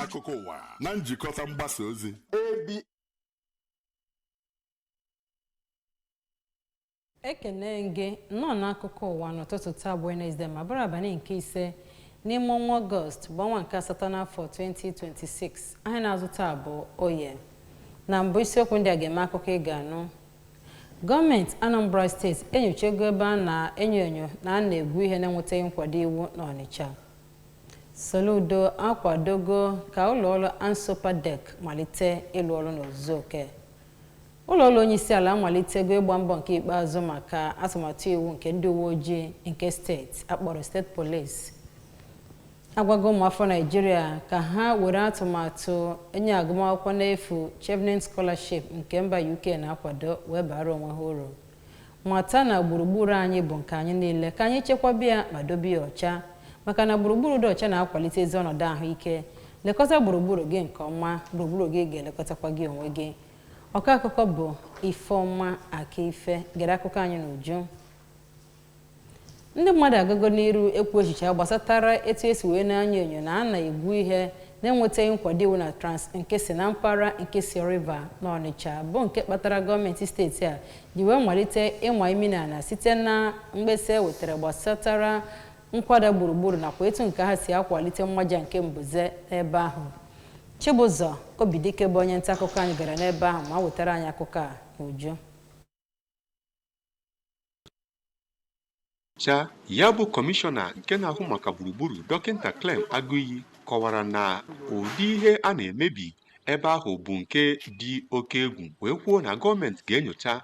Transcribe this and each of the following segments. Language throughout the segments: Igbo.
akụkọ ụwa na njikọta mgbasa ozi ekene m gị nnọọ n'akụkọ ụwa n'ụtụtụ taa bụ Wenesde ma bụrụ abalị nke ise n'ime ọnwa ọgọst bụ ọnwa nke asatọ n'afọ 2026 ahịa na-azụ taa bụ oye na mbụ isiokwu ndị a ga-eme akụkọ ị ga-anụ gọọmenti Anambra steeti enyochago ebe a na-enyo enyo na a na-egwu ihe na-enwetaghị nkwado iwu n'Ọnịcha Soludo akwadogo ka ụlọọrụ Ansopadec malite ịlụ ọrụ n'ozuzu oke Ụlọọrụ onyeisiala amalitego ịgba mbọ nke ikpeazụ maka atụmatụ iwu nke ndị uweojii nke steeti a kpọrọ state police agwago ụmụafọ Naịjirịa ka ha were atụmatụ inye agụmakwụkwọ n'efu Chevening Scholarship nke mba UK na-akwado wee baara onwe ha uru mata na gburugburu anyị bụ nke anyị niile ka anyị chekwaba ya ma dobe ya ọcha maka na gburugburu dị ọcha na-akwalite ezi ọnọdụ ahụike lekọta gburugburu gị nke ọma gburugburu gị ga-elekọtakwa gị onwe gị Ọkọ akụkọ bụ Ifeoma Akaife gere akụkọ anyị n'uju. Ndị mmadụ agago n'iru ekwu echiche ha gbasatara etu e si wee na-enyo enyo na a na-egwu ihe na-enwetaghị nkwado iwu na Trans Nkisi na mpaghara Nkisi River n'Ọnịcha bụ nke kpatara gọọmenti steeti a ji wee malite ịma imi n'ala site na mkpesa e wetara gbasatara nkwada gburugburu nakwa etu nke ha si akwalite mmaja nke mbuze n'ebe ahụ. Chibụzọ Obidike bụ onye nta akụkọ anyị gara n'ebe ahụ ma wetara anyị akụkọ a n'uju cha ya bụ kọmishọna nke na-ahụ maka gburugburu dọkịta Clem Agụiyi kọwara na ụdị ihe a na-emebi ebe ahụ bụ nke dị oke egwu wee kwuo na gọọmenti ga-enyocha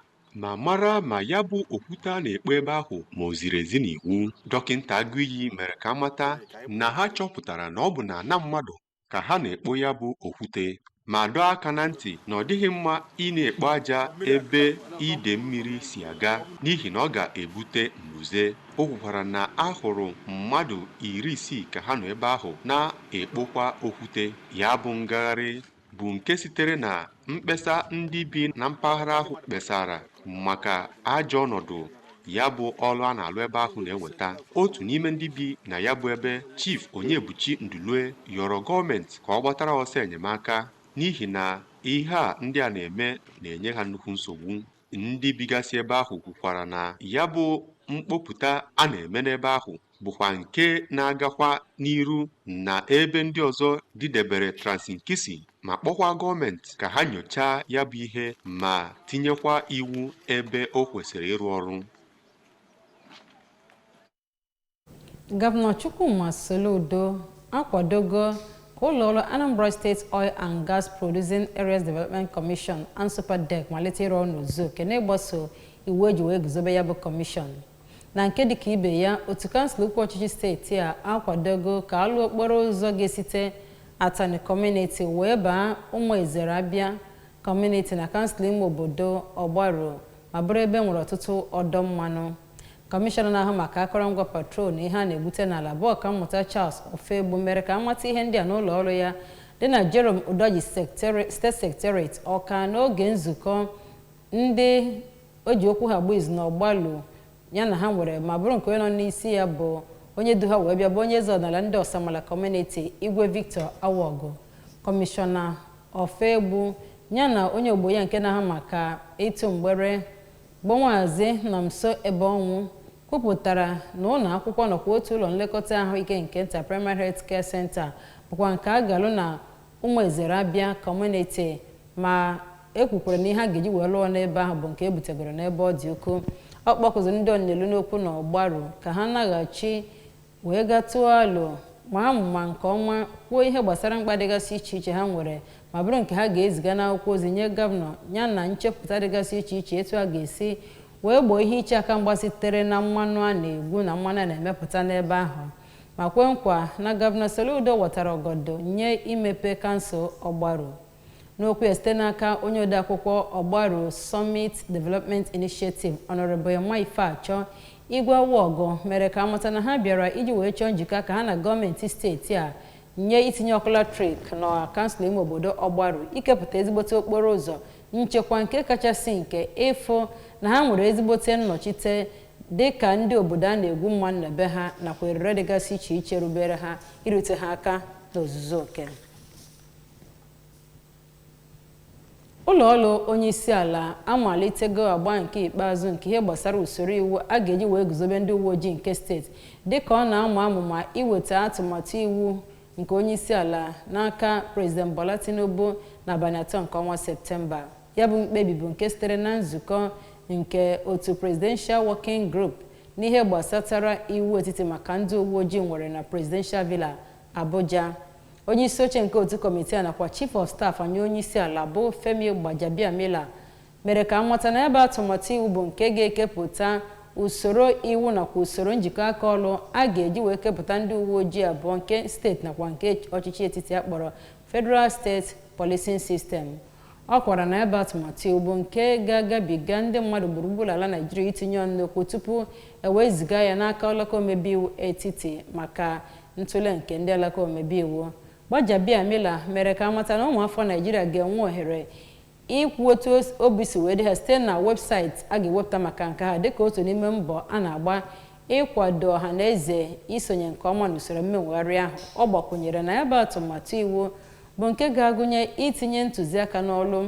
ma mara ma ya bụ okwute a na-ekpo ebe ahụ ma o ziri ezi n'iwu dọkịta Agụiyi mere ka a mata na ha chọpụtara na ọ bụ n'ana mmadụ ka ha na-ekpo ya bụ okwute ma dọọ aka na ntị na ọ dịghị mma ị na-ekpo aja ebe ide mmiri si aga n'ihi na ọ ga-ebute mbuze o kwukwara na a hụrụ mmadụ iri isii ka ha nọ ebe ahụ na-ekpokwa okwute ya bụ ngagharị bụ nke sitere na mkpesa ndị bi na mpaghara ahụ kpesara maka ajọ ọnọdụ ya bụ ọlụ a na-alụ ebe ahụ na-eweta otu n'ime ndị bi na ya bụ ebe Chief Onyebuchi Ndulue yọrọ gọọmenti ka ọ gbatara ọsọ enyemaka n'ihi na ihe a ndị a na-eme na-enye ha nnukwu nsogbu ndị bigasị ebe ahụ kwukwara na ya bụ mkpopụta a na-eme n'ebe ahụ bụkwa nke na-agakwa n'iru na ebe ndị ọzọ dịdebere Trans-Nkisi ma kpọkwa gọọmenti ka ha nyochaa ya bụ ihe ma tinyekwa iwu ebe o kwesịrị ịrụ ọrụ gọvanọ Chukwuma Soludo akwadogo ka ụlọọrụ Anambra State Oil and Gas Producing Areas Development Commission ANSOPADEC malite ịrụ ọrụ n'ozuzu oke n'ịgbaso iwu eji wee guzobe ya bụ kọmishọn Na nke dịka ibe ya, otu kansụl ukwu ọchịchị steeti a akwadogo ka a lụ okporo ụzọ ga-esite Atani Kọmuniti wee baa Ụmụ Ezere Abịa Kọmuniti na kansụl ime obodo Ọgbaru ma bụrụ ebe nwere ọtụtụ ọdọ mmanụ. Kọmishọna na-ahụ maka akọrọngwa petrol na ihe a na-egbute n'ala bụ Ọkammụta Charles Ofoegbu mere ka a mata ihe ndị a n'ụlọ ọrụ ya dị na Jerome Udoji State Secretariat Ọka n'oge nzukọ Ndị e ji okwu ha agba izu na Ọgbalu ya na ha nwere ma bụrụ nke onye nọ n'isi ya bụ onye du ha wee bịa bụ onye eze ọdịnala ndị Ọsamala Kọmuniti Igwe Victor Awogu, Kọmishọna Ofoegbu ya na onye ogbo ya nke na-ahụ maka ịtụ mgbere bụ Maazị Nọmso Ebeọnwụ kwupụtara na ụlọ akwụkwọ nakwa otu ụlọ nlekọta ahụike nke nta Primary Health Care Center bụkwa nke a ga-alụ na Ụmụ Ezere Abịa Kọmuniti ma e kwukwara na ihe a ga-eji wee lụọ n'ebe ahụ bụ nke e butegoro n'ebe ọ dị ukwuu. Ọ kpọkụziri ndị ọnụ na-elu n'okwu na Ọgbaru ka ha naghachi wee ga tụọ alo, maa amụma nke ọma, kwuo ihe gbasara mkpa dịgasị iche iche ha nwere ma bụrụ nke ha ga-eziga n'akwụkwọ ozi nye Gọvanọ yana nchepụta dịgasị iche iche etu a ga-esi wee gboo ihe iche aka mgba sitere na mmanụ a na-egwu na mmanụ a na-emepụta n'ebe ahụ. ma kwe nkwa na Gọvanọ Soludo watara ọgọdọ nye imepe kansụl Ọgbaru. N'okwu ya site n'aka onye odeakwụkwọ Ọgbaru Summit Development Initiative Honourable Emma Ifeachọ, Igwe Awọgụ mere ka a mata na ha bịara iji wee chọọ njikọ aka ha na gọọmenti steeti a nye itinye ọkụ latrik na kansụl ime obodo Ọgbaru ikepụta ezigbote okporo ụzọ nchekwa nke kachasị nke ịfụ na ha nwere ezigbote nnọchite dị ka ndị obodo a na-egwu mmanụ na be ha nakwa erere dịgasị iche iche rubere ha irute ha aka n'ozuzu oke ụlọ ọrụ onye isi ala amalitego agba nke ikpeazụ nke ihe gbasara usoro iwu a ga-eji wee guzobe ndị uwe ojii nke steeti dịka ọ na-ama amụma iweta atụmatụ iwu nke onye isi ala n'aka prezident bola tinubu n'abalị atọ nke ọnwa septemba Ya bụ mkpebi bụ nke sitere na nzukọ nke otu Presidential Working Group n'ihe gbasatara iwu etiti maka ndị uwe ojii nwere na Presidential Villa, Abuja. Onye isi oche nke otu kọmitii a nakwa Chief of Staff nye onye isi ala bụ Femi Gbajabiamila mere ka amata na ya bụ atụmatụ iwu bụ nke ga-ekepụta usoro iwu nakwa usoro njikọ aka ọlụ a ga-eji wee kepụta ndị uwe ojii abụọ nke steeti nakwa nke ọchịchị etiti a kpọrọ Federal State Policing System. Ọ kọwara na ya bụ atụmatụ iwu bụ nke ga-agabiga ndị mmadụ gburugburu ala Naịjirịa itinye ọnụ n'okwu tupu e wee ziga ya n'aka alaka omebe iwu etiti maka ntụle nke ndị alaka omebe iwu. Gbajabiamila mere ka amata na ụmụafọ Naịjirịa ga-enwe ohere ikwu otu obi si wee dị ha site na webụsaịtị a ga-ewepụta maka nke ha dịka otu n'ime mbọ a na-agba ịkwado ọha na eze isonye nke ọma n'usoro mmewegharị ahụ ọ gbakwụnyere na ya bụ atụmatụ iwu bụ nke ga-agụnye itinye ntụziaka n'ọlụ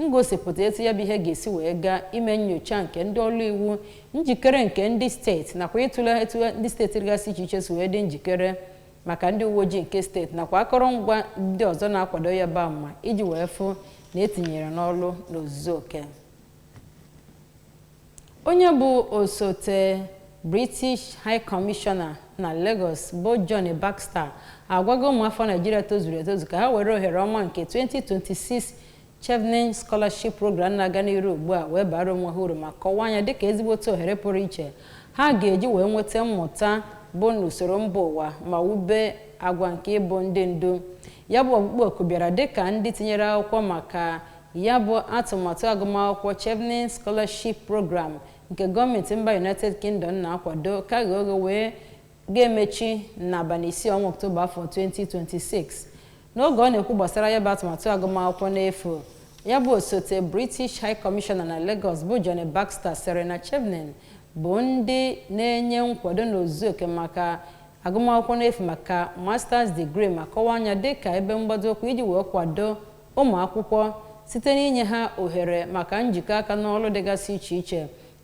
ngosipụta etu ya bụ ihe ga-esi wee gaa ime nnyocha nke ndị ọlụ iwu njikere nke ndị steeti nakwa ịtụle etu ndị steeti dịgasị iche iche si wee dị njikere maka ndị uwe ojii nke steeti nakwa akọrọngwa ndị ọzọ na-akwado ya bụ ama iji wee fụ na e tinyere n'ọlụ n'ozuzu oke Onye bụ osote British High Commissioner na Lagos bụ Jonny Baxter agwago ụmụafọ Naịjirịa tozuru etozu ka ha were ohere ọma nke 2026 Chevening Scholarship Program na-aga n'iru ugbu a wee bara onwe ha uru ma kọwaa ya dịka ezigbote ohere pụrụ iche ha ga-eji wee nweta mmụta bụ n'usoro mba ụwa ma wube agwa nke ịbụ ndị ndu. Ya bụ ọkpụkpọ oku bịara dịka ndị tinyere akwụkwọ maka Ya bụ atụmatụ agụmakwụkwọ Chevening Scholarship Programme nke gọọmenti mba United Kingdom na-akwado ka ghe oghe wee ga-emechi n'abalị isii ọnwa Ọktoba afọ 2026. N'oge ọ na-ekwu gbasara ya bụ atụmatụ agụmakwụkwọ n'efu, ya bụ osote British High Commissioner na Lagos bụ Jonny Baxter sịrị na Chevening bụ ndị na-enye nkwado n'ozuzu oke maka agụmakwụkwọ n'efu maka Masters degree ma kọwaa ya dịka ebe mgbado ụkwụ iji wee kwado ụmụ akwụkwọ site n'inye ha ohere maka njikọ aka n'ọlụ dịgasị iche iche,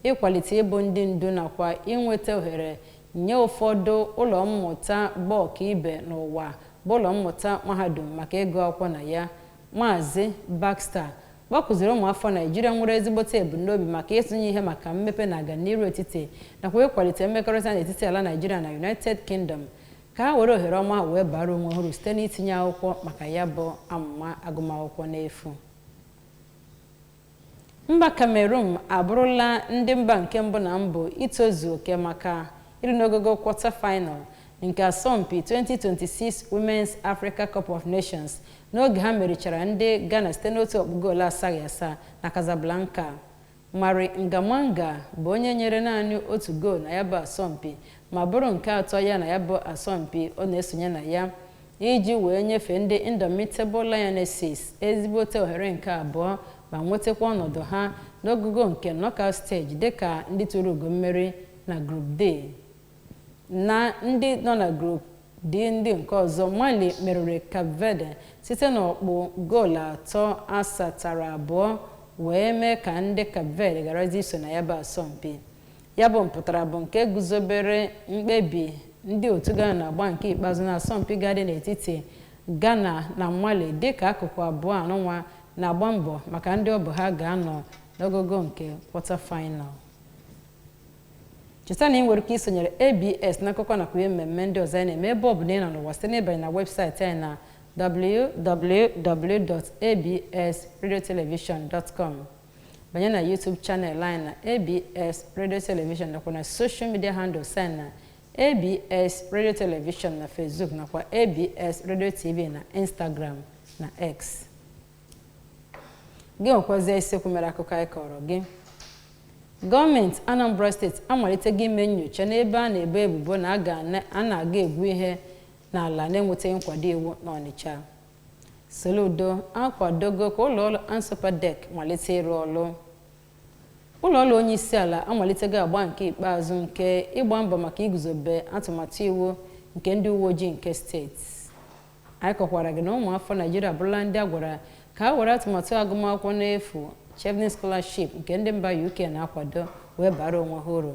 ịkwalite ịbụ ndị ndu nakwa inweta ohere nye ụfọdụ ụlọ mmụta bụ ọkaibe n'ụwa bụ ụlọ mmụta mahadum maka ịgụ akwụkwọ na ya. Maazị Baxter kpọkuziri ụmụafọ Naịjirịa nwere ezigbote ebumnobi maka ịtụnye ihe maka mmepe na aganiru etiti nakwa ịkwalite mmekọrịta n'etiti ala Naịjirịa na United Kingdom ka ha were ohere ọma wee baara onwe ha uru site n'itinye akwụkwọ maka ya bụ amụma agụmakwụkwọ n'efu mba kamerun abụrụla ndị mba nke mbụ na mbụ itozu oke maka ịrị n'ogogo kwọta final nke asọmpi 2026 Women's Africa Cup of Nations n'oge ha merichara ndị Ghana site n'otu ọkpụ goolu asaghị asa na Casablanca Marie Ngah Manga bụ onye nyere naanị otu goolu na ya bụ asọmpi ma bụrụ nke atọ ya na ya bụ asọmpi ọ na-esonye na ya iji wee nyefee ndị Indomitable Lionesses ezigbote ohere nke abụọ ma nwetakwa ọnọdụ ha n'ogogo nke knockout stage dịka ndị tụrụ ugo mmeri na Group D na ndị nọ na Group D ndị nke ọzọ, Mali meriri Cape Verde site n'ọkpụ goolu atọ asatara abụọ wee mee ka ndị Cape Verde gharazie iso na ya bụ asọmpi. Ya bụ mpụtara bụ nke guzobere mkpebi ndị otu Ghana n'agba nke ikpeazụ n'asọmpi ga-adị n'etiti Ghana na Mali dịka akụkụ abụọ anụnwa na-agba mbọ maka ndị ọ bụ ha ga-anọ n'ogogo nke kwọta faịnal. cheta na ị nwere ike isonyere abs n'akụkọ nakwa ihe mmemme ndị ọzọ anyị na-eme ebe ọ bụna ị nọ n'ụwa site n'ịbanye na webụsaịtị anyị na www.absradiotelevision.com banye na YouTube channel anyị na abs radio television nakwa na social media handles anyị na abs radio television na facebook nakwa abs radio tv na instagram na x gị nwekwazie isiokwu mere akụkọ anyị kọrọ gị gọọmenti anambra steeti amalitego ime nyocha n'ebe a na-ebo ebubo na a na-aga egwu ihe n'ala na-enwetaghị nkwado iwu n'ọnịcha soludo akwadogo ka ụlọọrụ ansopadec malite ịrụ ọrụ ụlọọrụ onye isi ala amalitego agba nke ikpeazụ nke ịgba mbọ maka iguzobe atụmatụ iwu nke ndị uwe ojii nke steeti anyị kọkwara gị na ụmụafọ naijiria abụrụla ndị a gwara ka ha were atụmatụ agụmakwụkwọ n'efu Chevening Scholarship nke ndị mba UK na-akwado wee baara onwe ha uru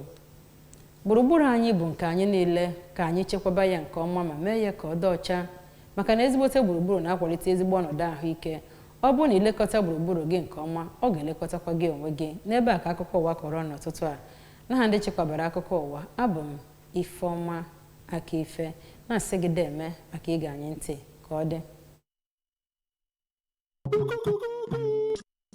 gburugburu anyị bụ nke anyị niile ka anyị chekwaba ya nke ọma ma mee ya ka ọ dị ọcha maka na ezigbote gburugburu na-akwalite ezigbo ọnọdụ ahụike ọ bụrụ na i lekọta gburugburu gị nke ọma ọ ga-elekọtakwa gị onwe gị n'ebe a ka akụkọ ụwa kọrọ n'ụtụtụ a n'aha ndị chịkọbara akụkọ ụwa abụ m Ifeọma Akaife, na-asị gị deeme maka ige anyị ntị. Ka ọ dị.